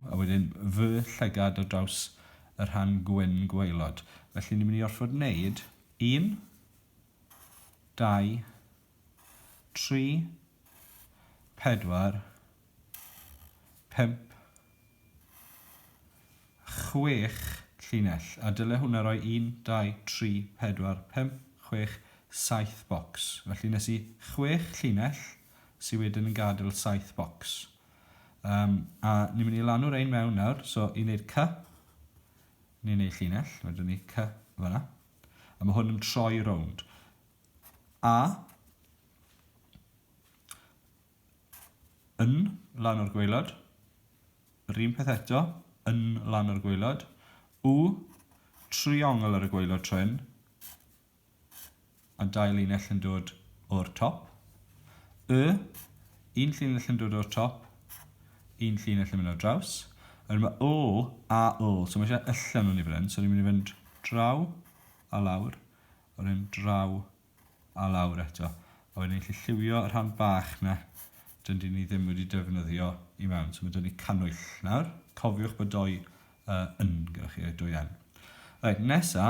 A wedyn fy llygad ar draws y rhan gwyn gwaelod. Felly ni'n mynd i orfod wneud un, dau, tri, pedwar, pump, chwech llinell. A dyle hwnna roi un, dau, tri, pedwar, pump, chwech, saith bocs. Felly nes i chwech llinell sydd wedyn yn gadael saith bocs. Um, a ni'n mynd i lanw rein mewn nawr, so i wneud cy, ni'n wneud llinell, mae dyn ni cy fanna. A mae hwn yn troi rownd. A, yn lan o'r gweilod, yr un peth eto, yn lan o'r gweilod, u, triongl ar y gweilod troen, a dau linell yn dod o'r top. Y, un llinell yn dod o'r top, un llinell yn mynd ar draws. A wedyn mae o a o, so mae eisiau allan o'n i fan hyn, so ni'n mynd i fynd draw a lawr, a wedyn draw a lawr eto. A wedyn ni'n gallu lliwio y rhan bach na dyn ni ddim wedi defnyddio i mewn. So mae dyn ni cannwyll nawr. Cofiwch bod doi uh, yn gyda chi, doi yn. Right, nesa,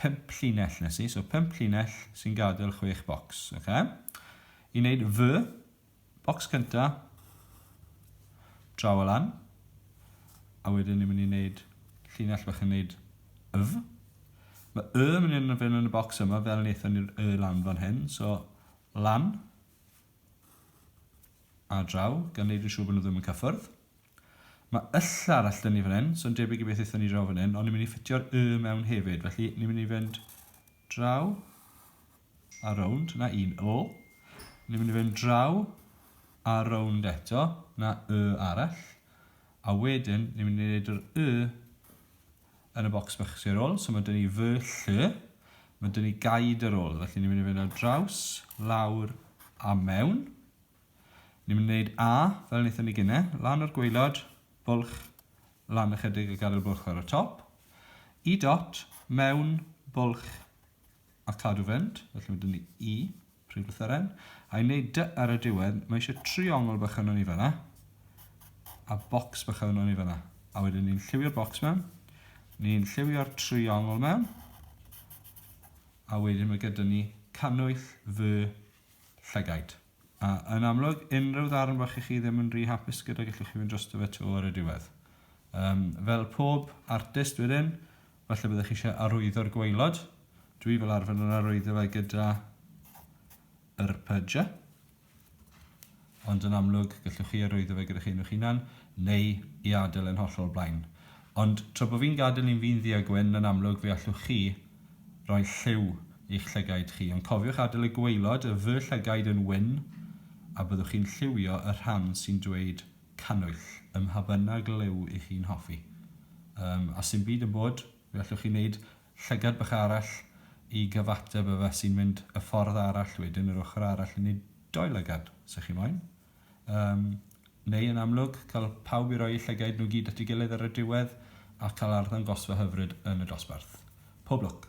pump llinell nes i, so pump llinell sy'n gadael chwech bocs, oce? I wneud fy, bocs cynta, draw o lan, a wedyn ni'n mynd i wneud llinell bach yn wneud yf. Mae y yn mynd i fynd yn y bocs yma, fel wnaethon ni'r y lan fan hyn, so lan, a draw, gan wneud yn siŵr bod nhw ddim yn cyffwrdd. Mae y llall all dynnu fan hyn, so yn debyg i beth aethon ni draw fan hyn, ond ni'n mynd i ffitio'r y mewn hefyd, felly ni'n mynd i fynd draw a rownd, na un o. Ni'n mynd i fynd draw a rownd eto, na y arall. A wedyn, ni'n mynd i wneud yr y yn y bocs bach sy'n ôl, so mae dyn ni fy lly, mae dyn ni gaid ar ôl, felly ni'n mynd i fynd ar draws, lawr a mewn. Ni'n mynd i wneud A, fel wnaethon ni gynne, lan o'r gwaelod, bwlch, lan ychydig a gadael bwlch ar y top. E dot, mewn, bwlch, a cadw fynd, felly mae dyn ni E, prif lythyren. A i wneud D ar y diwedd, mae eisiau triongl bach yno ni fanna, a bocs bach yno ni fanna. A wedyn ni'n lliwio'r bocs mewn, ni'n lliwio'r triongl mewn, a wedyn mae gyda ni cannwyll fy llygaid. A, yn amlwg, unrhyw ddarn fach i chi ddim yn rhy hapus gyda gellwch chi fynd drosto fe 'to ar y diwedd. Um, fel pob artist wedyn, falle byddwch chi eisiau arwyddo'r gwaelod. Dwi fel arfer yn arwyddo fe gyda yr pydja. Ond yn amlwg, gellwch chi arwyddo fe gyda chi nhw'ch hunan, neu i adael yn hollol blaen. Ond tra bo fi'n gadael i'n fin ddu a gwyn yn amlwg fe allwch chi roi lliw i'ch llygaid chi, ond cofiwch adael y gwaelod y fy llygaid yn wyn a byddwch chi'n lliwio y rhan sy'n dweud cannwyll ym mha bynnag liw i chi'n hoffi. Yym, a sdim byd yn bod, fe allwch chi wneud llygad bach arall i gyfateb â fe sy'n mynd y ffordd arall wedyn yr ochr arall i wneud dou lygad, os y'ch chi moyn. Yym, neu yn amlwg, cael pawb i roi eu llygaid nhw gyd at ei gilydd ar y diwedd a cael arddangosfa hyfryd yn y dosbarth. Pob lwc!